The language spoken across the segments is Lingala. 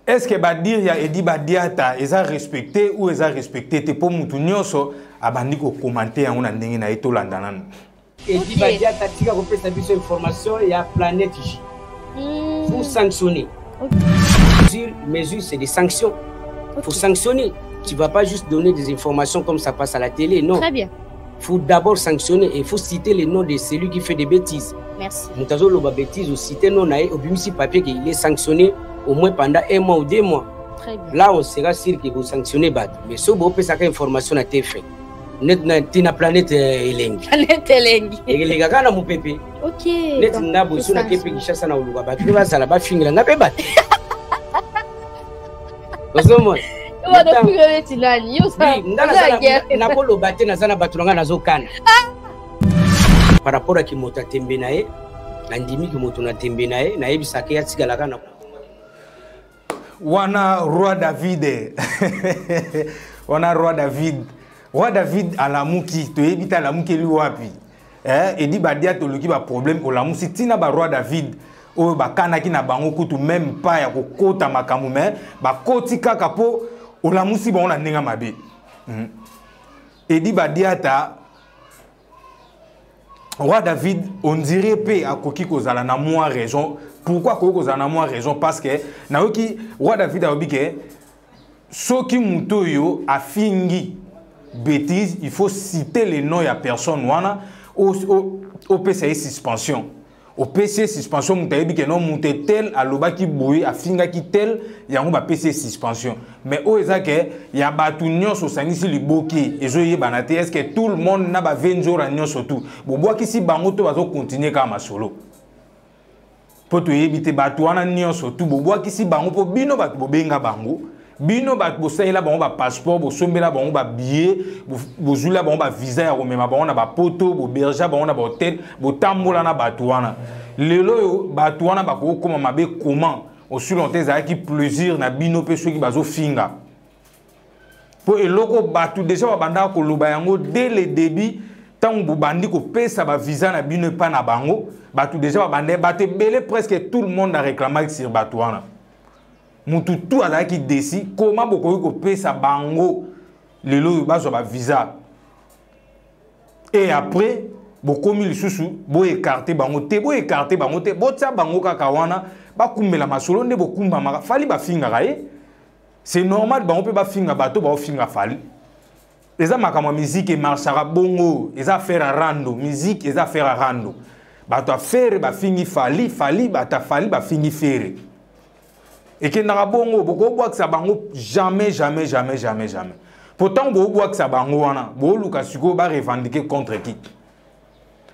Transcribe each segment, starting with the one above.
est ce que badire ya edi badiata eza respecte ou eza respecte te mpo motu nyonso abandi kokomante yango na ndenge na ye tolanda nanu edi badiata tika kopesa biso information ya planète j hmm. pour sanctionner mesure mesure c'est des sanctions pour sanctionner tu vas pas juste donner des informations comme ça passe à la télé non très bien faut d'abord sanctionner et faut citer le nom de celui qui fait des bêtises. Merci. moto azoloba bêtise osite no na ye obimisi papier ke il est sanctionné au moins pendant un mois ou deux mois Très bien. là on sera sûr que bosanctionne bato mais soki boopesaka information na tf net na ntina planète eh, elengi Planète elengi. ekeleka kaka na mopepe Ok. neti donc, nga boso na kepe tosanzwe. kinshasa na koluka bato mpe bazala bafingela nga mpe bato ozomona nakoloba te naza na bato na ngai nazokana ah! par rapport ya kimoto ya tembe na ye nandimi kimoto na tembe na ye nayebisaka ye atikalaka na wana roi david wana roi david roi david alamuki toyebi te alamukeli wapi eh, edi badia toluki baproblème olamusi ntina baroi david oyo bakanaki na bango kutu meme pas ya kokota makambo me bakoti kaka mpo olamusi bango na ndenge mabe hmm. edi badiata roi david ondire mpe akoki kozala na mwa raison pourquoi akoki kozala na mwa raison parce que nayoki roi david alobi ke soki moto oyo afingi bêtise il faut citer le nom ya personne wana opesa ye suspension opesi ye suspension moto ayebi ke no moto etel alobaki boye afingaki tel yango bapesi ye suspension mais oyo eza ke ya bato nyonso osangisi liboke ezoyebana te est ce que tout le monde na bavenzora nyonso tout bobwakisi bango to bazokontinue kaka masolo mpo toyebi te bato wana nyonso tu bobwakisi bango mpo bino bato bobenga bango bino bato bosalela bango bapasseport bosombela bango babillet bozwila bango bavisa ya komema bango na bapoto bobergea bango na bahotel botambola na bato wana lelo oyo bato wana bakokoma mabe comment osilonte ezalaki plaisir na bino mpe soki bazofinga mpo eloko bato deja babandaka koloba yango dès le début ntango bobandi kopesa bavisa na bino epai na bango bato deja babanda bato ebele presque tout le monde aréclamaki sur bato wana motu tu azalaki desi koma bokoki kopesa bango lelo oyo bazwa bavisa e après bokomi lisusu boekarte bango te boekarte bango te botya bango kaka wana bakumbela masolo nde bokumbamaka fali bafingaka ye eh? c'est normal bango mpe bafinga bato baofinga fali eza makambo ya miziki emarchaka bongo eza affaire ya rando miziki eza affaire ya rando bato ya fere bafingi fali fali bato ya fali bafingi fere ekendaka bongo bokobwakisa bango jamais jamais jamais jamais jamais mpo ntango bokobwakisa bango wana boluka sikoyo barevendike contre qui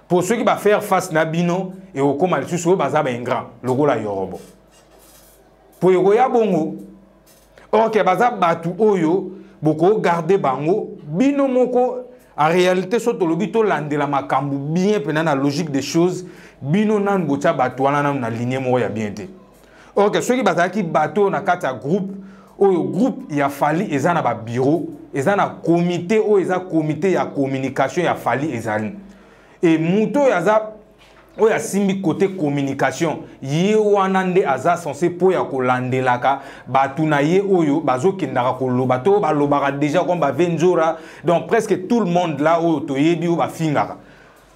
mpo soki bafaire face na bino ekokóma lisusu oyo baza baingrant lokola yorobo mpo ekoya bongo orke baza bato oyo bokogarde bango bino moko en réalité so tolobi tolandela makambo bien mpena na logique des choses bino nanu botya bato wana nanu na linie moko ya bien te orke soki bazalaki bato oyo na kati ya groupe oyo groupe ya fali eza na babiro eza na komite oyo eza komite ya communication ya fali ezali e moto oyo aza oyo asimbi kote communication ye wana nde aza sense mpo ya kolandelaka bato na ye oyo bazokendaka koloba to balobaka deja koma bave nzora donc presque tout le monde la oyo toyebi oyo bafingaka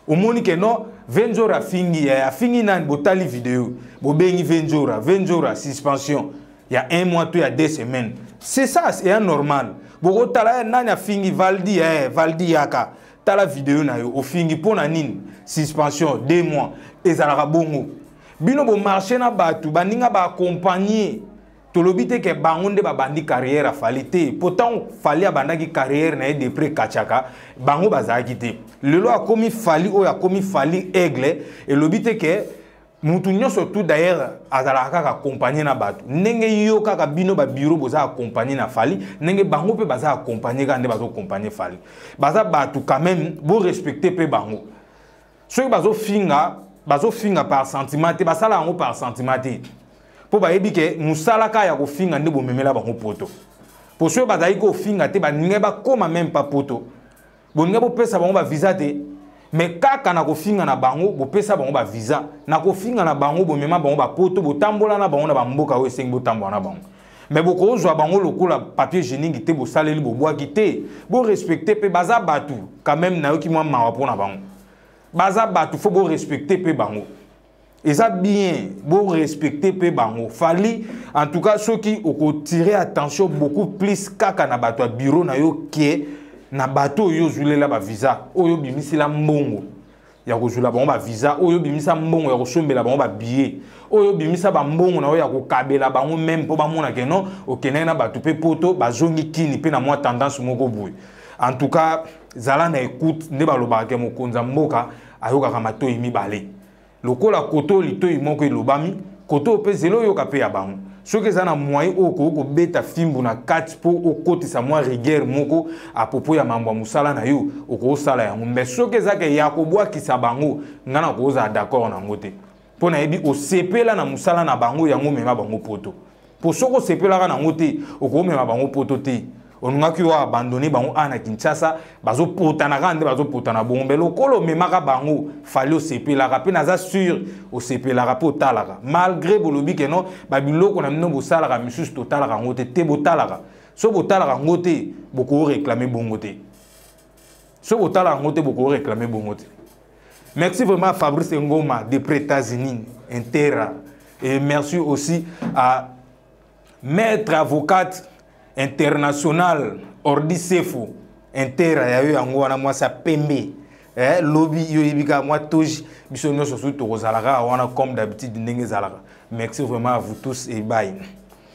omoni ke non venzora afingi eh, afingi nani botali video bobengi venzora venzora suspension ya un mois to ya deux semaines c'est ça eya normal bokotala eh, nani afingi valdi eh, valdi yaka tala video na yo ofingi mpo na nini suspension deux mois ezalaka bongo bino bomarche na bato baninga baakompagne tolobi te ke bango nde babandi carrière afali te mpo ntango fali abandaki carrière na ye depre kachaka bango bazalaki te lelo akomi fali oyo akomi fali aigle elobi te ke mutu nyonso tout d'ailleurs azalaka kaka accompagne na bato ndenge yo kaka bino babiro boza accompagne na fali ndenge bango mpe baza accompagne kaka nde bazocompagne fali baza bato quand même borespecte mpe bango soki bazofinga bazofinga par sentiment te basala yango par sentiment te mpo bayebi ke mosala kaka ya kofinga nde bomemela bango poto mpo soki bazali kofinga te baningai bakóma meme pa poto bolinga bopesa bango baviza te me kaka na kofinga na bango bopesa bango baviza na kofinga na bango bomema bango bapoto botambola na bango na bamboka oyo esengi botambola na bango me bokozwa bango lokola papier geningi te bosaleli bobwaki te borespecte mpe baza bato quand meme nayoki mwa mawa mpo na bango baza bato fo borespecte mpe bango eza bien bo respecter pe bango fali en tout cas soki okotirer attention beaucoup plus kaka na bato ya bureau na yo ke na bato oyo ozulela bavisa oyo obimisela mbongo ya kozwela bango bavisa oyo obimisa mbongo ya kosombela bango babillet oyo obimisa bambongo na yo ya kokabela bango meme mpo bamona ke non okendaki na bato mpe poto bazongi kini mpe na mwa tendance moko boye en tout cas zala na écoute nde balobaka ke mokonzi ya mboka ayokaka matoyi mibale lokola koto litoyi moko elobami koto mpe zelo oyoka mpe ya bango soki eza na moyen oyo okoki kobeta fimbu na kati mpo okotisa mwa rigueur moko apropo ya mambo ya mosala na yo okosala yango mais soki ezaka ya kobwakisa bango ngai nakozala d'accord na yango te mpo nayebi osepela na mosala na bango yango omema bango poto mpo soki osepelaka na yango te okomema bango poto te olingaki yo abandone bango awa na kinshasa bazopotana kaka nde bazopotana bongo mpe lokola omemaka bango fali osepelaka mpe naza sur osepelaka mpe otalaka malgré bolobi ke non babiloko na bino bosalaka misusu totalaka yango te te botalaka so botalaka yango te bokoreklame bongo te soki botala yango te boko réclame bongo te merci vraiment fabrice ngoma de prétazinin intera et merci aussi à maître avocate international ordi sefo intera ya yo yango wana mwasi ya pembe eh, lobi yo oyebi kaka mwa toji biso nyonso soki tokozalaka wana comme d'habitude ndenge ezalaka merci vraiment à vous tous et bye